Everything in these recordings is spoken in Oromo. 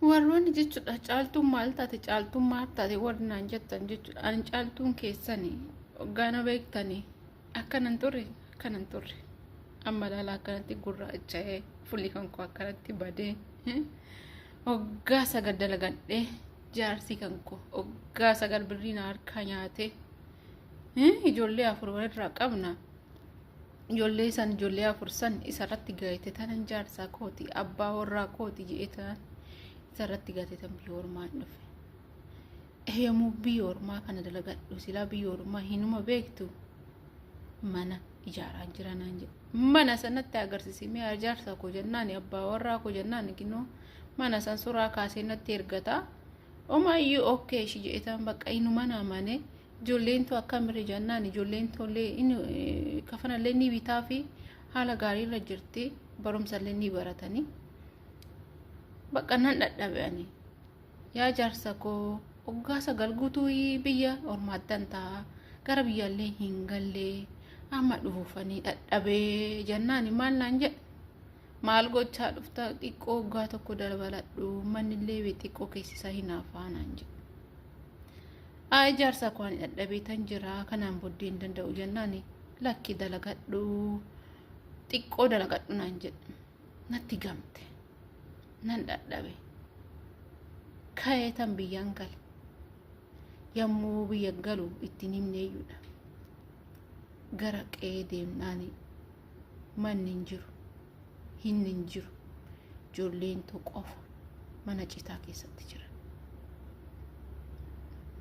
Warroonni jechuudha caaltuun maal taate caaltuun maal taate warri naan jettan jechuudha ani caaltuun keessani gaana beektanii akkanan turre akkanan turre amma laala akkanatti gurraacha'ee fulli kan koo akkanatti badee hoggaa sagal dalagadhee jaarsii kan koo hoggaa sagal birrii na harkaa nyaatee ijoollee afur walirraa qabna ijoollee san ijoollee afur san isarratti gaayite tanan jaarsaa kooti abbaa warraa kooti jedhee tanan isarratti gaayite tan biyya ormaa hin dhufe eeyyamuu biyya ormaa kana dalagadhu silaa biyya ormaa hinuma beektu mana ijaaraan jira naan jedhe mana sanatti agarsiise mi'a ijaarsaa koo jennaan abbaa warraa koo jennaan ginoo mana san suuraa kaasee natti ergata omaayyuu okkee ishii jedhetaan bakka inuma naamane Ijoolleen too akkamirra jennaan ijoolleen toollee kafanallee ni bitaa fi haala gaariirra jirti barumsallee ni baratanii bakka nan dhadhabe'anii yaa jaarsa koo oggaa sagal guutuu biyya ormaattan ta'a gara biyyaallee hin gallee amma dhuufanii dhadhabee jennaani maal naan jedhe Maal gochaa dhufta xiqqoo waggaa tokko dabaladhu mannillee bee xiqqoo keessisaa hinaafaa naan jedhe. Aa ijaarsa koo ani dhadhabeetan jira kanaan booddee hin danda'u jennaani lakki dalagadhu xiqqoo dalagadhu naan jedhe. Natti gamte nan dhadhabe ka'eetan biyyaan gale yommuu biyya galu ittiin himneeyyuudha gara qe'ee deemnaanii. manni hin jiru hinni hin jiru joolleentu qofa mana citaa keessatti jira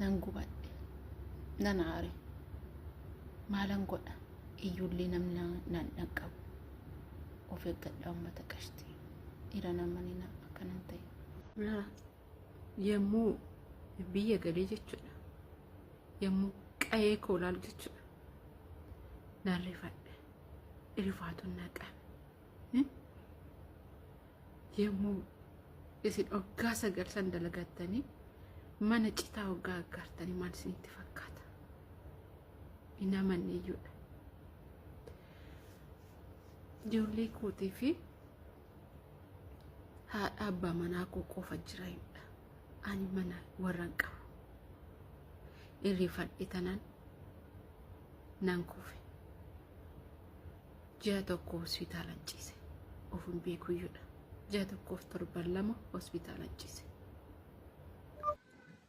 nan gubadhe nan aare maalan godha iyyuullee namni nan dhaqqabu of eeggadha ummata qashti dhiira namanina akkanan ta'e yommuu biyya galee jechuudha yommuu qa'ee koo ilaalu jechuudha nan rifadhe rifaatuun na qabe yommuu isin oggaa sagal san dalagattanii mana citaa oggaa aggaartanii maal isinitti fakkaata hin amanne iyyuudha ijoollee kootii fi haadha abbaa manaa koo qofa jira himdha ani mana warran qabu irrifadhe tanan nan kufe ji'a tokko hospitaalan ciise of hin beekuyyudha ji'a tokkoof torban lama hospitaalan ciise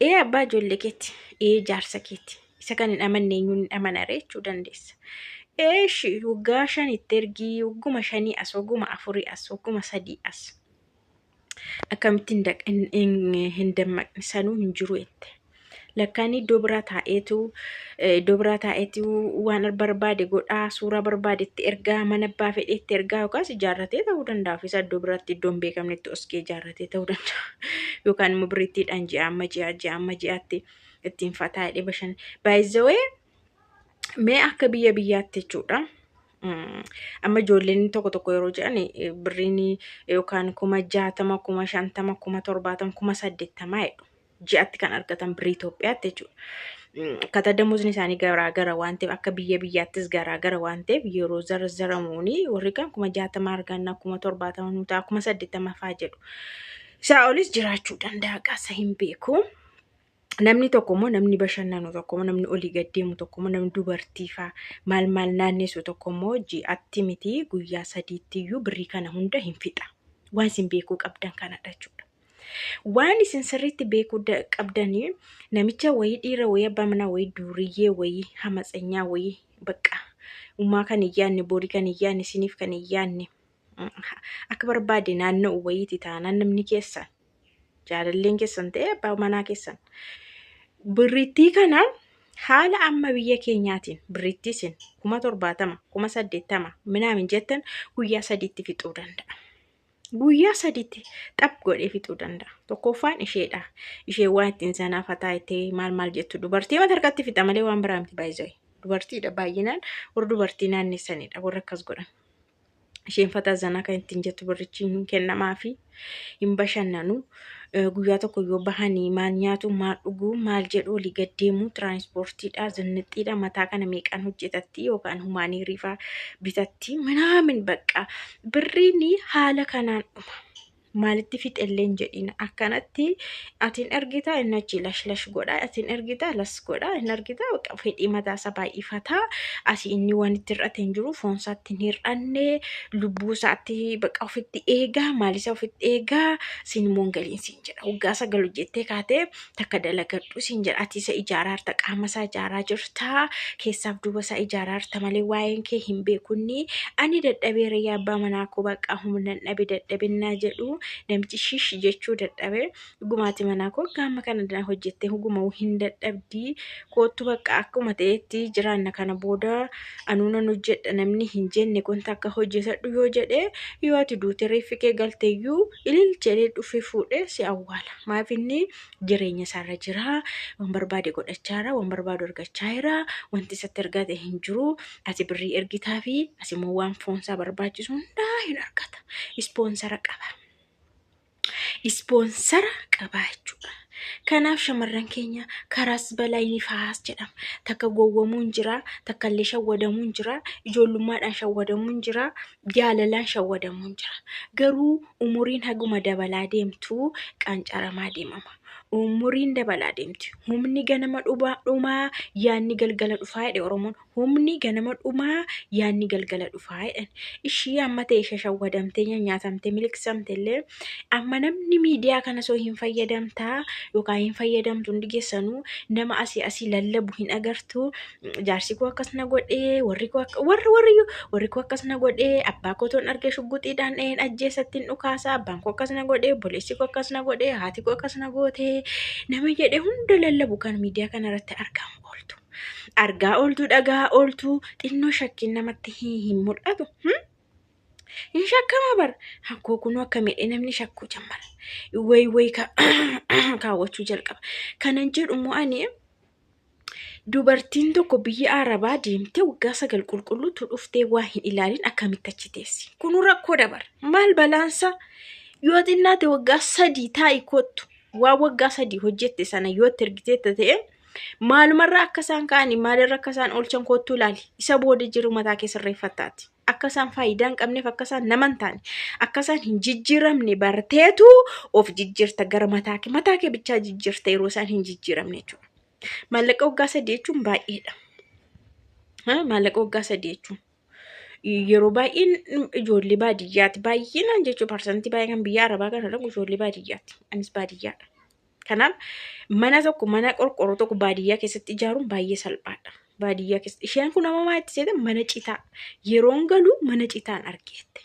Ee abbaa ijoollee keetti, ee jaarsa keetti. Isa kan hin amanne eenyuun hin amanare jechuu dandeessa. Ee ishi waggaa shan itti ergii, wagguma shanii as, wagguma afurii as, wagguma sadii as. Akkamitti hin daq- hin- hin- hin dammaqne sanuu hin jiru jette. Lakkaan iddoo biraa taa'eetu eh, iddoo biraa taa'eetu waan barbaade godhaa, suuraa barbaade itti ergaa, mana abbaa fedhe itti ergaa yookaas ijaarratee ta'uu danda'a. Ofiisaa iddoo biraatti iddoo hin beekamnetti oskee ijaarratee. qabatee ta'uu danda'a. Yookaan immoo birriittiidhaan ji'a amma ji'a ji'a amma ji'aatti ittiin fataa hidhee bashan. Baay'izawee mee akka biyya biyyaatti jechuudha. Mm, Amma ijoolleen tokko tokko yeroo jedhan eh, birriin yookaan kuma jaatama, kuma shantama, kuma torbaatama, kuma saddeettamaa jedhu. ji'atti kan argatan birrii Itoophiyaatti jechuudha. Akkaataa damozni isaanii garaa gara waan ta'eef akka biyya biyyaattis garaa gara waan ta'eef yeroo zarzaramuuni warri kan kuma jaatama arganna kuma torbaatama nu ta'a kuma saddeettama fa'aa jedhu. Isaa olis jiraachuu danda'a qaasa hin beeku. Namni tokko immoo namni bashannanu tokko immoo namni olii gad deemu tokko immoo namni dubartii fa'aa maal maal naannessu tokko immoo ji'atti miti guyyaa sadiitti iyyuu birrii kana hunda hin fixa. Waan isin beekuu qabdan kanadha jechuudha. Waan isin sirriitti beekuu da- qabdanii namicha wayii dhiira wayii abbaa manaa wayii duuriyyee wayii hamatsenyaa wayii bakka ummaa kan hin yaadne borii kan hin yaadne isiniif kan hin yaadne mm, akka barbaade naanna'u wayiiti taanaan namni keessan jaalalleen keessan ta'e abbaa manaa keessan birrittii kana haala amma biyya keenyaatiin birrittii isin kuma torbaatama kuma saddeettama minaamin jettan guyyaa sadiitti fixuu danda'a. guyyaa sadiitti xaph godhee fixuu danda'a. Tokkoffaan isheedha. Ishee waan ittiin sanaa fataa itti maal maal jettu dubartii mata harkatti fixa malee waan biraa miti baay'isee. Dubartiidha baay'inaan warra dubartii naannessanidha warra akkas godhan. Isheen fataa zanaa kan ittiin jettu birrichi hin kennamaafi hin bashannanu. Eh, guyyaa tokko yoo bahanii maal nyaatu maal dhuguu maal jedhu olii gad deemuu tiraanispoortiidha zinnixxiidha mataa kana meeqaan hojjetatti yookaan humaanii riifaa bitatti minaamin baqqa birriin haala kanaan dhuma maalitti fixellee hin jedhiin akkanatti atiin ergita inni achi lash lash godha atiin ergita las godha hin argita bakka fedhii mataa isaa baay'ifata asii inni waan itti hir'ate hin jiru foon isaatti hin hir'anne lubbuu isaatti bakka ofitti eegaa maal isaa ofitti eegaa siin immoo hin galiin siin jedha waggaa sagal hojjettee kaatee takka dalagadhu siin jedha ati isa ijaaraa jirta qaama isaa ijaaraa jirta keessaaf duuba isaa ijaaraa jirta malee waa'een kee hin beekunni ani dadhabee rayyaa abbaa manaa koo bakka humna dhabe dadhabinaa jedhu namichi shish jechuu dadhabe Dhugumaati manaa koo gaama kana dana hojjettee huguma hin dadhabdii koottu bakka akkuma ta'etti jiraanna kana booda anuu nan hojjedha namni hin jenne kun takka hojjetadhu yoo jedhe yoo ati duute reeffi kee galteeyyuu ilil jedhee dhufee fuudhee si awwaala maaf inni jireenya isaarra jira waan barbaade godhachaa jira waan barbaadu argachaa jira wanti isatti argate hin jiru ati birrii ergitaa fi asimmoo waan foonsaa barbaachisu hundaa hin argata ispoonsara qaba. ispoonsara qaba jechuudha. Kanaaf shamarran keenya karaas balaa inni fahaas jedhama. Takka gowwamuun jira, takka illee shawwadamuun jira, ijoollummaadhaan shawwadamuun jira, jaalalaan shawwadamuun jira. Garuu umuriin haguma dabalaa deemtu qancaramaa deemama. Umuriin dabalaa deemti. Humni ganama dhumaa, yaadni galgala dhufaa jedhe Oromoon. Humni ganama dhumaa, yaanni galgala dhufaa jedhan. Ishii amma ta'e shashawwadamtee nyanyaatamtee miliqsamte illee amma namni miidiyaa kana soo hin fayyadamtaa yookaan hin fayyadamtu hundi keessanuu nama asii asii lallabu hin agartu jaarsi koo akkas na godhee warri koo akka warri warri warri koo akkas na godhee abbaa koo toon argee shugguxiidhaan dha'een ajjeesatti hin dhukaasa abbaan koo akkas na godhee obboleessi koo akkas na godhee haati koo akkas na gootee nama jedhe hunda lallabu kan miidiyaa kana irratti argamu ooltu. Argaa ooltuu dhagaa ooltuu xinnoo shakkiin namatti hin hin mul'atu. Hmm? Hin shakkama bar. Hakkoo kunuu akka miidhee namni shakkuu jammara. Wayi wayi ka kaawwachuu jalqaba. Kanan jedhu immoo ani dubartiin tokko biyya Arabaa deemtee waggaa sagal qulqulluutu dhuftee waa hin ilaalin akkamitti achi teessi. Kunuu rakkoo dabar. Maal balaansa? Yoo xinnaate waggaa sadii taa'i kottu. Waan waggaa sadii hojjette sana yoo itti ergitee ta'e Maalumarraa akka isaan ka'anii maalirra akka isaan oolchan koottuu ilaali. Isa booda jiru mataa kee sirreeffattaati. Akka isaan faayidaa hin qabneef akka isaan nama hin taane akka isaan hin jijjiiramne barteetu of jijjiirta gara mataa kee mataa kee bichaa jijjiirta yeroo isaan hin jijjiiramne jechuudha. Maallaqa waggaa sadii jechuun baay'eedha. Ha, Maallaqa waggaa sadii jechuun. yeroo baay'een ijoollee baadiyyaati. Baay'inaan jechuun parsantii baay'ee kan biyya arabaa kana dhaqu ijoollee baadiyyaati. Anis baadiyyaadha. Kanaaf mana tokko mana qorqorroo tokko baadiyyaa keessatti ijaaruun baay'ee salphaadha. Baadiyyaa keessatti isheen kun amma maatti seete mana citaa yeroon galu mana citaan argeette.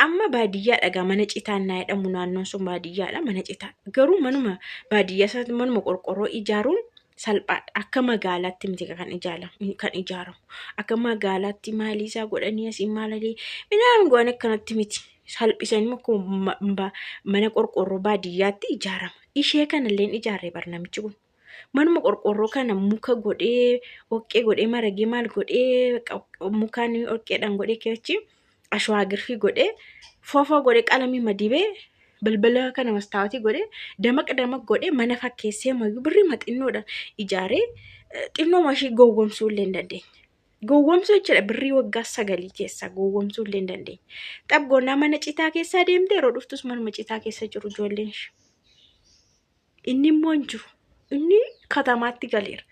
Amma baadiyyaa dhagaa mana citaan naa jedhamu naannoon sun baadiyyaadha mana citaa garuu manuma baadiyyaa isaatti manuma qorqorroo ijaaruun salphaadha. Akka magaalaatti miti kan ijaaramu kan ijaaramu. Akka magaalaatti maalii isaa godhanii asiin maalalee midhaan goon akkanatti miti. Salphisanii akkuma mana qorqoorroo baadiyyaatti ijaarama. Ishee kanalleen ijaarree bar namichi kun. Manuma qorqoorroo kana muka godhee, oqqee godhee, maragee maal godhee, mukaan oqqeedhaan godhee keechi ashwaa girfii godhee foofoo godhe qalamii madibee balbala kana mastaawatii godhe damaq damaq godhe mana fakkeessee mayyuu birrii maxinnoodha ijaaree xinnoo mashii gowwomsuu illee hin dandeenye. Gowwomsuu jechuudha birrii waggaa sagalii keessaa gowwomsuu illee hin dandeenye. Xabgoonnaa mana citaa keessaa deemte yeroo dhuftus manuma citaa keessa jiru ijoolleen ishee. Inni immoo hin jiru. Inni katamaatti galeera.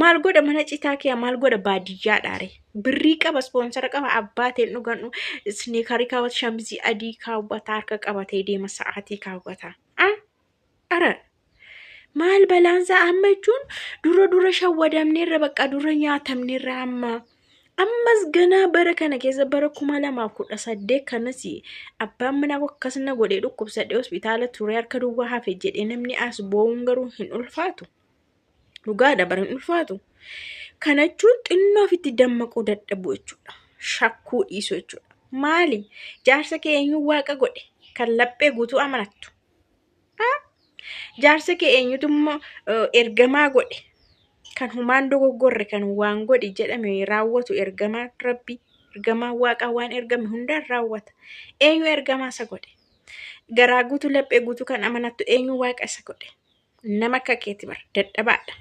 Maal godha mana citaa kee maal godha baadiyyaa dhaare. Birrii qaba ispoonsara qaba abbaa ta'een dhugan isniikarii kaawwata shamizii adii kaawwata harka qabatee deema sa'aatii kaawwata. Ah! Ara! Maal balaansaa amma jechuun dura dura shawwadamneerra bakka dura nyaatamneerra amma. ammas ganaa bara kana keessa bara kuma lamaaf kudha saddeet kanas abbaan manaa koo akkas na godhee dhukkubsadhee hospitaala turee harka duwwaa hafe jedhee namni as boo'uun garuu hin ulfaatu. Dhugaadha bara hin ulfaatu. Kana jechuun xinnoo ofitti dammaquu dadhabuu jechuudha. Shakkuu dhiisuu jechuudha. Maali? Jaarsa kee eenyuun waaqa godhe? Kan laphee guutuu amanattu. Jaarsa kee eenyutu ergamaa godhe? Kan humaan dogoggorre kan waan godhi jedhame raawwatu ergamaa rabbi ergamaa waaqaa waan ergame hundaan raawwata. Eenyu ergamaa isa godhe? Garaa guutuu laphee guutuu kan amanattu eenyu waaqa isa godhe? Nama akka keeti bar dadhabaadha.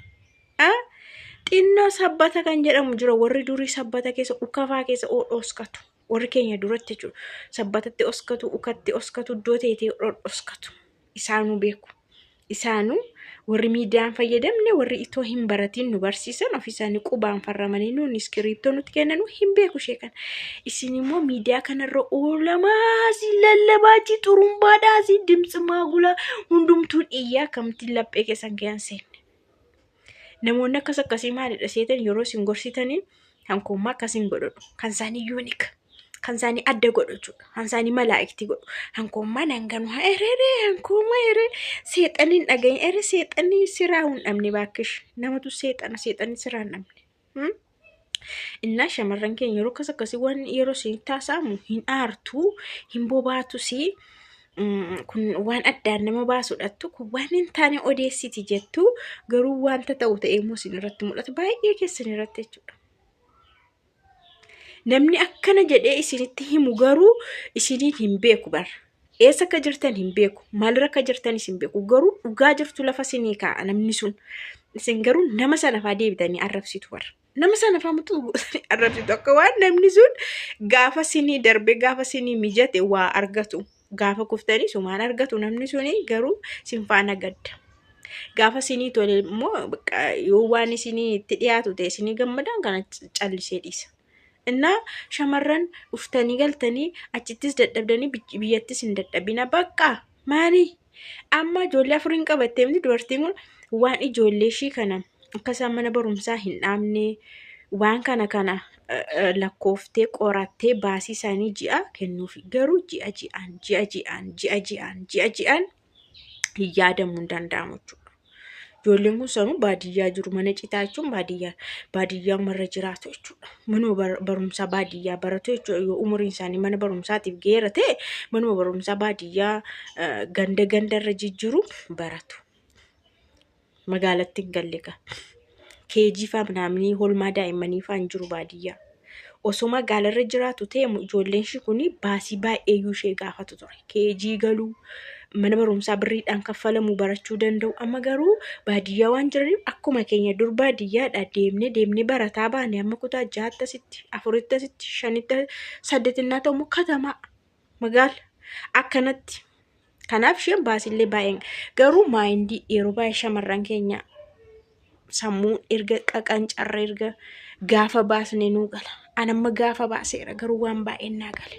Xinnoo sabbata kan jedhamu jira warri durii sabbata keessa ukafaa keessa oodhooskatu. Warri keenya duratti jechuudha. Sabbatatti oskatu, ukatti oskatu, iddoo teetee dhodhoskatu. Isaanuu beeku. Isaanuu warri miidiyaan fayyadamne warri itoo hin baratiin nu barsiisan ofii isaanii qubaan farramanii nuun iskiriiptoo nutti kennanu hin beeku ishee kana. Isin immoo miidiyaa kanarra oolamaa si lallabaa ji xurumbaadhaa si dimtsi maagulaa hundumtuun iyyaa akkamittiin laphee keessan keessan seenne. Namoonni akkas akkasii maalidha seetan yeroo isin gorsitanii kan koommaa akkas hin godhadhu. Kan isaanii yuunik. Kan isaanii adda godhu jechuudha. Kan isaanii malaa'ikti godhu. Kan koommaa nan ganu haa erere kan koommaa erere seexanni hin dhagahin ere seexanni siraa hin dhabne baakkish. Namatu seexana seexanni siraa hin dhabne. Innaa shamarran keenya yeroo akkas akkasii waan yeroo isinitti haasa'amu hin aartu, hin bobaatus kun waan addaan nama baasudhattu kun waan hin taane odeessiti jettu garuu wanta ta'u ta'ee immoo isin irratti mul'ata baay'ee keessan irratti jechuudha. Namni akkana jedhee isinitti himu garuu isiniin hin beeku bara. Eessa akka jirtan hin beeku. Maalirra akka jirtanis hin beeku. Garuu dhugaa jirtu lafa sinii kaa'a namni sun. Isin garuu nama sanafaa deebitanii arrabsitu warra. Nama sanafaa muxuu gootanii arrabsitu akka waan namni sun gaafa sinii darbe gaafa sinii mijate waa argatu. Gaafa kuftanii sumaan argatu namni suni garuu sin faana gadda. Gaafa sinii tole immoo bakka yoo waan isinii itti dhiyaatu ta'e isinii gammadaan kana callisee dhiisa. Innaa shamarran dhuftanii galtanii achittis dadhabdanii bic- biyyattis hin dadhabina bakka maali amma ijoollee afuriin qabattee miti dubartiin kun waan ijoollee ishii kana akka isaan mana barumsaa hin dhaabne waan kana kana eh, eh, lakkooftee qorattee baasii isaanii ji'a kennuufi garuu ji'a ji'aan ji'a ji'aan ji'a ji'aan ji'a ji'aan hin yaadamu hin danda'amu jechuudha. Ijoolleen kun sanuu baadiyyaa jiru mana citaa jechuun baadiyyaa baadiyyaa marra jiraatu jechuudha. Manuma bar- barumsaa baadiyyaa baratu jechuudha. Yoo umuriin isaanii mana barumsaatiif geera ta'e manuma barumsaa baadiyyaa eh, ganda gandarra jijjiiru baratu. magaalatti hin galle ka keejii faa minaaminii holmaa daa'immanii faa hin jiru baadiyyaa osoo magaalarra jiraatu ta'e ijoolleen ishii kun baasii baay'eeyyuu ishee gaafatu ture keejii galuu mana barumsaa birriidhaan kaffalamu barachuu danda'u amma garuu baadiyyaa waan jiraniif akkuma keenya dur baadiyyaadha deemnee deemnee barataa baane amma kutaa ja'aatti asitti afuritti asitti shanitti saddeetinnaa ta'u immoo katamaa magaala akkanatti kanaaf isheen baasillee baay'een garuu maayindii yeroo baay'ee shamarran keenya sammuu erga qaqancarra erga gaafa baasne nuu gala anamma gaafa baaseera garuu waan baay'een naa gale.